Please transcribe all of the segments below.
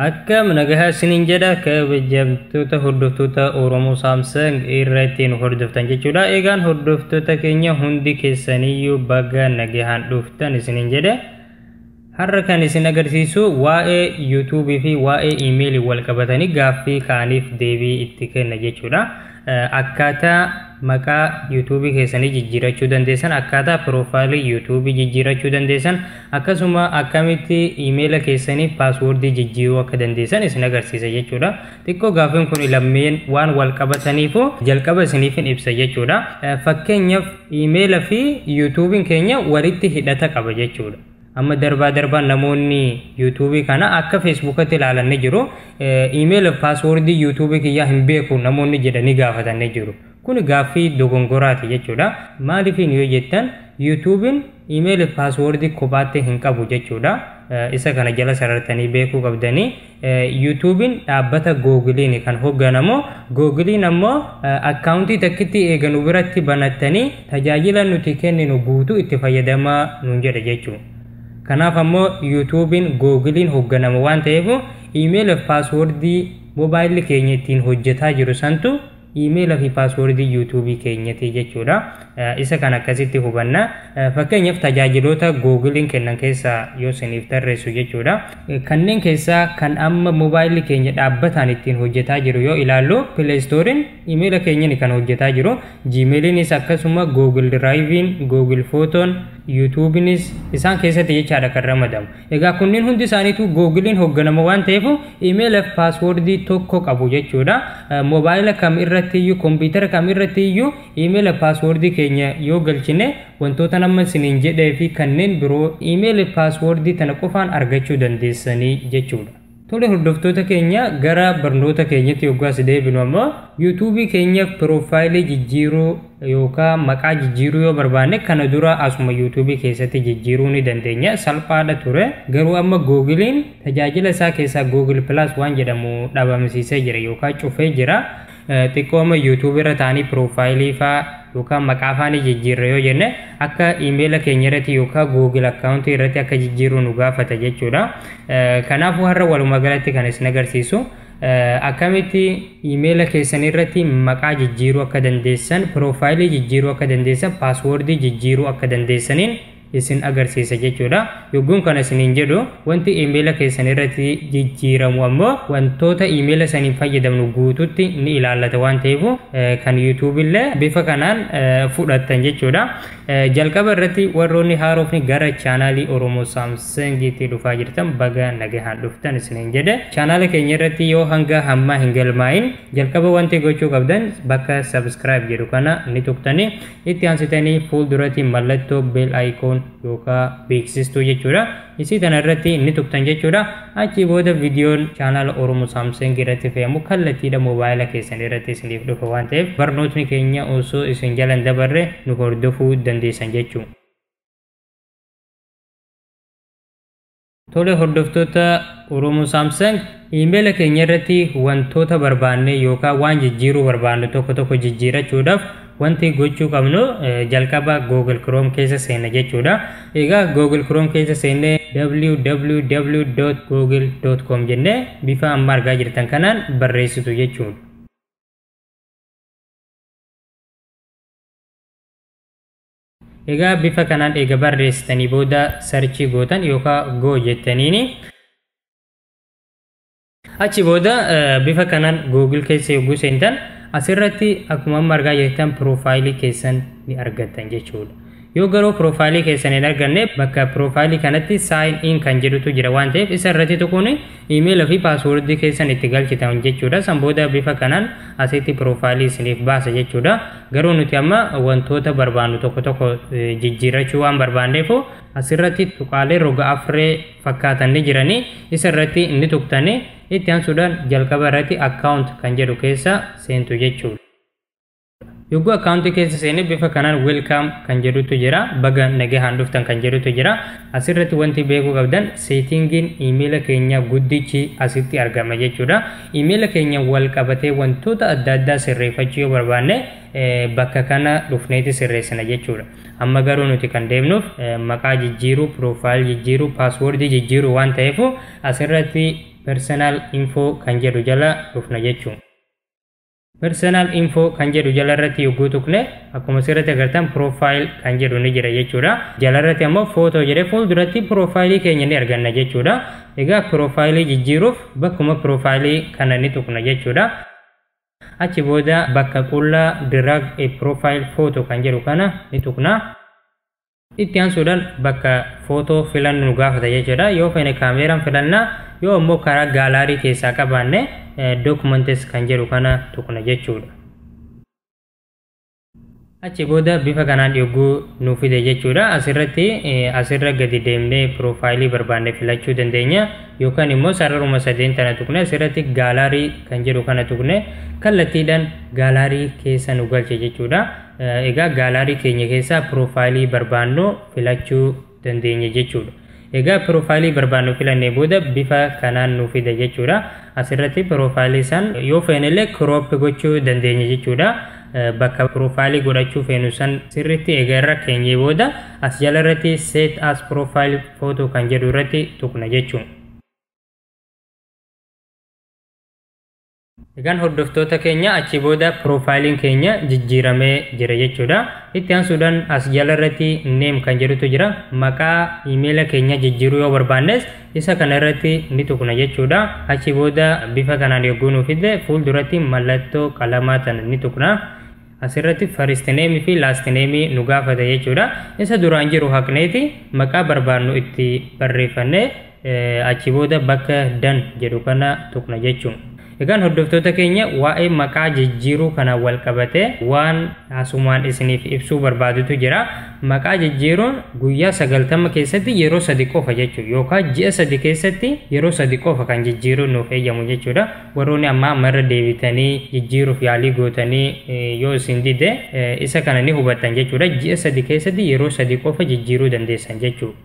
Akkam nagahaa isiniin jedha kabajamtoota hordoftoota Oromoo Saamsang irra ittiin hordoftan jechuudha. Egaan hordoftoota keenya hundi keessaniyyuu baga nagahaan dhuftan isiniin jedha. Har'a kan isin agarsiisu waa'ee YouTube fi waa'ee email wal qabatanii gaaffii ka'aniif deebii itti kenna jechuudha. Akkaataa maqaa YouTube keessanii jijjiirachuu dandeessan, akkaataa piroofaayilii YouTube jijjiirachuu dandeessan, akkasuma akkamitti email keessanii paaswoordii jijjiiruu akka dandeessan isin agarsiisa jechuudha. Xiqqoo gaaffiin kun lammeen waan wal qabataniifu jalqaba isiniif hin ibsa jechuudha. Fakkeenyaaf email fi YouTube'n keenya walitti hidhata qaba jechuudha. amma darbaa darbaan namoonni yuutuubii kana akka feesbuukatti ilaalan ni jiru iimeela paaswoordii yuutuubii kiyyaa hin beeku namoonni jedhanii gaafatan ni jiru kun gaaffii dogongoraati jechuudha maaliifiin yoo jettan yuutuubiin iimeela paaswoordii kophaatti hin qabu jechuudha isa kana jala sarartanii beekuu qabdanii Yuutuubiin dhaabbata Googiliini kan hogganamu. Googiliin ammoo akkaawuntii takkittii eega nu biratti banattanii tajaajila nuti kenninu guutuu itti fayyadamaa nuun jedha jechuudha. Kanaaf ammoo Yuutuubiin Googiliin hogganama waan ta'eef iimeela fi paaswoordii mobaayilli keenya ittiin hojjetaa jiru santu iimeela fi paaswoordii yuutuubii keenyati jechuudha. Isa kan akkasitti hubanna. Fakkeenyaaf tajaajiloota googiliin kennan keessaa yoo isiniif tarreessu jechuudha. Kanneen keessaa kan amma moobaayilli keenya dhaabbataan ittiin hojjetaa jiru yoo ilaallu pileestooriin iimeela keenyani kan hojjetaa jiru. Jiimeeliinis akkasuma googil diraayiviin, googil footoon, yuutuubiinis isaan keessatti jechaadha kan ramadamu. Egaa kunniin hundi isaaniitu Googiliin hoogganama waan ta'eef imeela fi paaswoordii tokko qabu jechuudha. Moobaayila kam irratti iyyuu, kompiitara kam irratti iyyuu imeela fi paaswoordii keenya yoo galchine wantoota nama isiniin jedhee fi kanneen biroo imeela fi paaswoordii tana qofaan argachuu dandeessanii jechuudha. Tole hordoftoota keenya gara barnoota keenyatti yoggaa si deebinu amma yuutuubii keenya piroofaayilii jijjiiruu yookaan maqaa jijjiiruu yoo barbaanne kana dura asuma yuutuubii keessatti jijjiiruu ni dandeenya salphaadha ture garuu amma googiliin tajaajila isaa keessaa googil pilaas waan jedhamu dhabamsiisee jira yookaan cufee jira xiqqoo amma YouTube irra taanii piroofaayilii faa yookaan maqaa faa ni jijjiirra yoo jenne akka iimeela keenya irratti yookaan Google akkaawuntii irratti akka jijjiirru nu gaafata jechuudha. Kanaafuu har'a walumaa galatti kan isin agarsiisu akkamitti iimeela keessan irratti maqaa jijjiiruu akka dandeessan, piroofaayilii jijjiiruu akka dandeessan, paaswoordii jijjiiruu akka dandeessaniin isin agarsiisa jechuudha. Yogguun kana isiniin jedhu wanti iimeela keessan irratti jijjiiramu ammoo wantoota iimeela saniin fayyadamnu guututti ni ilaallata waan ta'eef kan YouTube illee bifa kanaan fudhattan jechuudha. Jalqaba irratti warroonni haarofni gara chaanaalii Oromoo Saamsangiitti dhufaa jirtan baga nagahaan dhuftan isiniin jedhe. Chaanaala keenya irratti yoo hanga hammaa hin galmaa'in jalqaba wanti gochuu qabdan bakka subscribe jedhu kana ni tuqtanii Itti aansitanii fuulduratti mallattoo bell icon yookaan beeksistuu jechuudha. Isii tana irratti ni tuqxan jechuudha. Achii booda viidiyoon chaanaala Oromo Samsung irratti fe'amu kallattiidha moobaayila keessan irratti isiniif dhufa waan ta'eef barnootni keenya osoo isin jalan dabarre nu hordofuu dandeessan jechuudha. Tole hordoftoota Oromoo Samsung iimeela keenya irratti wantoota barbaanne yookaan waan jijjiiruu barbaannu tokko tokko jijjiirachuudhaaf wanti gochuu qabnu eh, jalqaba Google Chrome keessa seenna jechuudha. Egaa Google Chrome keessa seennee www.google.com jennee bifa amma argaa jirtan kanaan barreessitu jechuudha. Egaa bifa kanaan eega barreessitanii booda sarchii gootan yookaan go jettaniini. Achi booda bifa kanaan Google keessa yogguu seentan asirratti akkuma amma argaa jirtan piroofaayilii keessan ni argattan jechuudha. Yoo garuu piroofaayilii keessan hin arganne bakka piroofaayilii kanatti sign in kan jedhutu jira waan ta'eef isa irratti tuquun Email fi password keessan itti galchitan jechuudha. San booda bifa kanaan asitti profile isiniif baasa jechuudha. Garuu nuti amma wantoota barbaannu tokko tokko jijjiirrachuu waan barbaanneef asirratti tuqaalee roga afree fakkaatan ni jiranii isa irratti ni tuqtanii itti aansuudhaan jalqaba irratti account kan jedhu keessa seentu jechuudha. Yogguu akkaawuntii keessa seene bifa kanaan welcome kan jedhutu jira. Baga nagahaan dhuftan kan jedhutu jira. Asirratti wanti beekuu qabdan seetingiin iimeela keenya guddichi asitti argama jechuudha. Iimeela keenya wal qabatee wantoota adda addaa sirreeffachuu yoo barbaanne bakka kana dhufneeti sirreessina jechuudha. Amma garuu nuti kan deemnuuf maqaa jijjiiruu, piroofaayil jijjiiruu, paaswoordii jijjiiruu waan ta'eef asirratti personal info kan jedhu jala dhufna jechuudha. Personal info kan jedhu jalarratti yogguu tuqne akkuma asirratti agartan profile kan jedhu ni jira jechuudha. Jalarratti ammoo photo jedhee fuulduratti profile keenya ni arganna jechuudha. Egaa profile jijjiiruuf bakkuma profile kana ni tuqna jechuudha. Achi booda bakka qullaa drag a profile photo kan jedhu kana ni tuqna. Itti aansuudhaan bakka footoo filannu nu gaafata jechuudha. Yoo feene kaameeraan filanna yoo ammoo karaa gaalaarii keessaa qabaanne documents kan jedhu kana tuqna jechuudha. Achi booda bifa kanaan yogguu nu fide jechuudha. Asirratti asirra gadi deemnee piroofaayilii barbaanne filachuu dandeenya. Yookaan immoo sararuma sadeen tana tuqne asirratti gaalaarii kan jedhu kana tuqne kallattiidhaan gaalaarii keessa nu galche jechuudha. Egaa gaalaarii keenya keessaa piroofaayilii barbaannu filachuu dandeenya jechuudha. Egaa piroofaayilii barbaannu filannee booda bifa kanaan nu fida jechuudha. Asirratti piroofaayilii san yoo feenellee kirooppi gochuu dandeenya jechuudha. Bakka piroofaayilii godhachuu feenu san sirriitti egaa irra keenyee booda as jala irratti set as profile photo kan jedhu irratti tuqna jechuudha. Egaan hordoftoota keenya achi booda piroofaayiliin keenya jijjiiramee jira jechuudha. Itti aansuudhaan as jala irratti neem kan jedhutu jira. Maqaa iimeela keenya jijjiiruu yoo barbaannes isa kana irratti ni tuqna jechuudha. Achi booda bifa kanaan yogguu nu fidde fuulduratti mallattoo qalamaa tan ni tuqna. Asirratti first name fi last name nu gaafata jechuudha. Isa duraan jiru haqneeti maqaa barbaadnu itti barreeffannee eh, achi booda bakka dan jedhu kana tuqna jechuun. Egaan hordoftoota keenya waa'ee maqaa jijjiiruu kana wal qabatee waan asumaan isiniif ibsuu barbaadutu jira. Maqaa jijjiiruun guyyaa sagaltama keessatti yeroo sadi qofa jechuudha. Yookaan ji'a sadi keessatti yeroo sadi qofa kan jijjiiruun nuuf eeyyamu jechuudha. Warroonni ammaa amma irra deebitanii jijjiiruuf yaalii gootanii yoo isin dide isa kana ni hubattan jechuudha. Ji'a sadi keessatti yeroo sadi qofa jijjiiruu dandeessan jechuudha.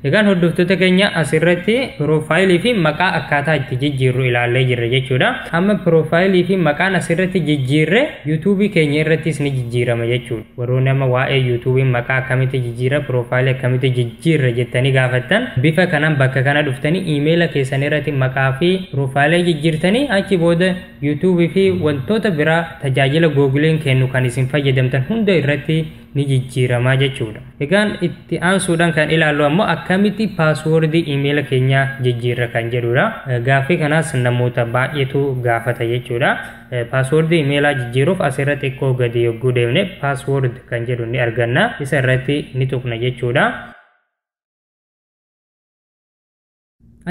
Egaan hordoftoota keenya asirratti piroofaayilii fi maqaa akkaataa itti jijjiirru ilaallee jirra jechuudha. Amma piroofaayilii fi maqaan asirratti jijjiirre yuutuubii keenya irrattis ni jijjiirama jechuudha. Warroo nama waa'ee youtube maqaa akkamitti jijjiirra profile akkamitti jijjiirra jettanii gaafattan bifa kanan bakka kana dhuftanii emaila keessan irratti maqaa fi profile jijjiirtanii achi booda youtube fi wantoota biraa tajaajila googleen kennu kan isin fayyadamtan hunda irratti ni jijjiiramaa jechuudha. Egaan itti aansuudhaan kan ilaallu ammoo akkamitti paaswoordii imeela keenyaa jijjiirra kan jedhudha. Gaaffii kanaas namoota baay'eetu gaafata jechuudha. Paaswoordii imeelaa jijjiiruuf as irratti xiqqoo gadi yogguu deemne paaswoord kan jedhu ni arganna. Isa irratti ni tuqna jechuudha.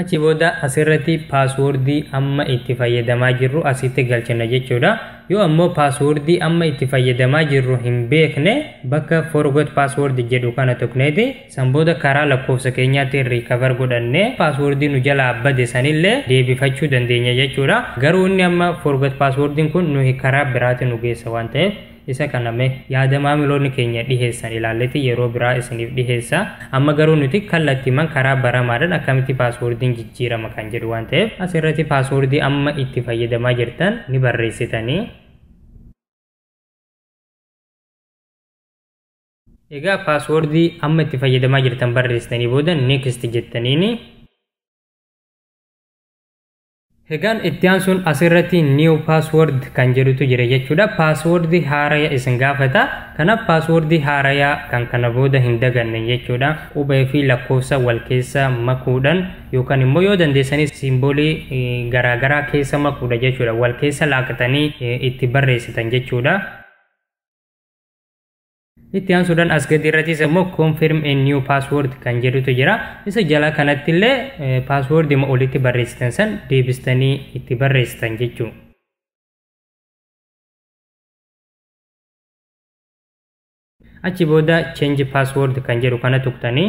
Achi booda as irratti paaswoordii amma itti fayyadamaa jirru asitti galchina jechuudha. Yoo ammoo paaswoordii amma itti fayyadamaa jirru hin beekne bakka forgot password jedhu kana tuqneeti San booda karaa lakkoofsa keenyaatiin recover godhannee password nu jalaa bade sanillee deebifachuu dandeenya jechuudha. Garuu inni amma forgot password kun nuyi karaa biraati nu geessa waan ta'eef isa kana mee yaada maamiloonni keenya dhiheessan ilaalleeti yeroo biraa isiniif dhiheessa. Amma garuu nuti kallattiiman karaa baramaadhaan akkamitti password'n jijjiirama kan jedhu waan ta'eef asirratti password amma itti fayyadamaa jirtan ni barreessitanii. Egaa paaswoordii amma itti fayyadamaa jirtan barreessitanii booda next jettaniini. Egaan itti aansuun asirratti new password kan jedhutu jira jechuudha. Paaswoordii haaraya isin gaafata. Kanaaf paaswoordii haaraya kan kana booda hin daganne jechuudha. Qubee fi lakkoofsa wal keessa makuudhaan yookaan immoo yoo dandeessanis siimboolii garaagaraa keessa makuudha jechuudha. Wal keessa laaqxanii itti barreessitan jechuudha. Itti aansuudhaan as gadi irrattis immoo confirm a new password kan jedhutu jira. Isa jala kanatti illee password ima olitti barreessitan san deebistanii itti barreessitan jechuudha. Achi booda change password kan jedhu kana tuqtanii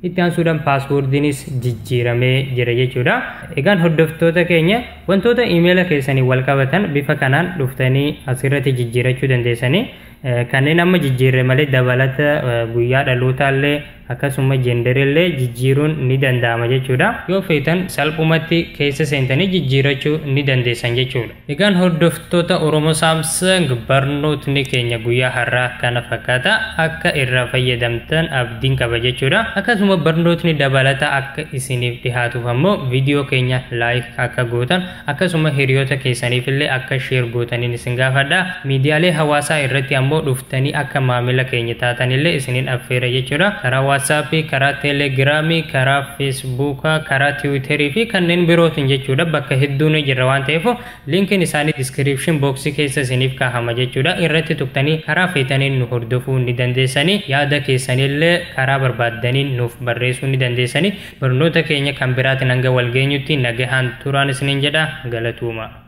Itti aansuudhaan paaswoordiinis jijjiiramee jira jechuudha. Egaan hordoftoota keenya wantoota imeela keessanii wal qabatan bifa kanaan dhuftanii asirratti jijjiirachuu dandeessanii kanneen amma jijjiirre malee dabalata guyyaa dhalootaallee akkasuma jenderillee jijjiiruun ni danda'ama jechuudha. Yoo feetan salphumatti keessa seentanii jijjiirachuu ni dandeessan jechuudha. Egaan hordoftoota Oromo Samsung barnootni keenya guyyaa har'aa kana fakkaata akka irraa fayyadamtan abdiin qaba jechuudha. Akkasuma barnootni dabalataa akka isiniif dhihaatuuf ammoo viidiyoo keenya like akka gootan akkasuma hiriyoota keessaniif illee akka share gootaniin isin gaafadha. Miidiyaalee hawaasaa irratti ammoo dhuftanii akka maamila keenya taatan illee isiniin affeera jechuudha. Karaa WhatsApp, karaa Telegram, karaa feesbuuka, karaa tiwiiterii fi kanneen birootiin jechuudha. Bakka hedduu ni jirra waan ta'eef linkiin isaanii diskiriipshin booksii keessa isiniif kaahama jechuudha. Irratti tuqtanii karaa feetaniin nu hordofuu ni dandeessanii. Yaada keessanillee karaa barbaaddaniin nuuf barreessuu ni dandeessanii. Barnoota keenya kan biraatiin hanga wal geenyutti nagahaan turaan isiniin jedha. Galatuuma.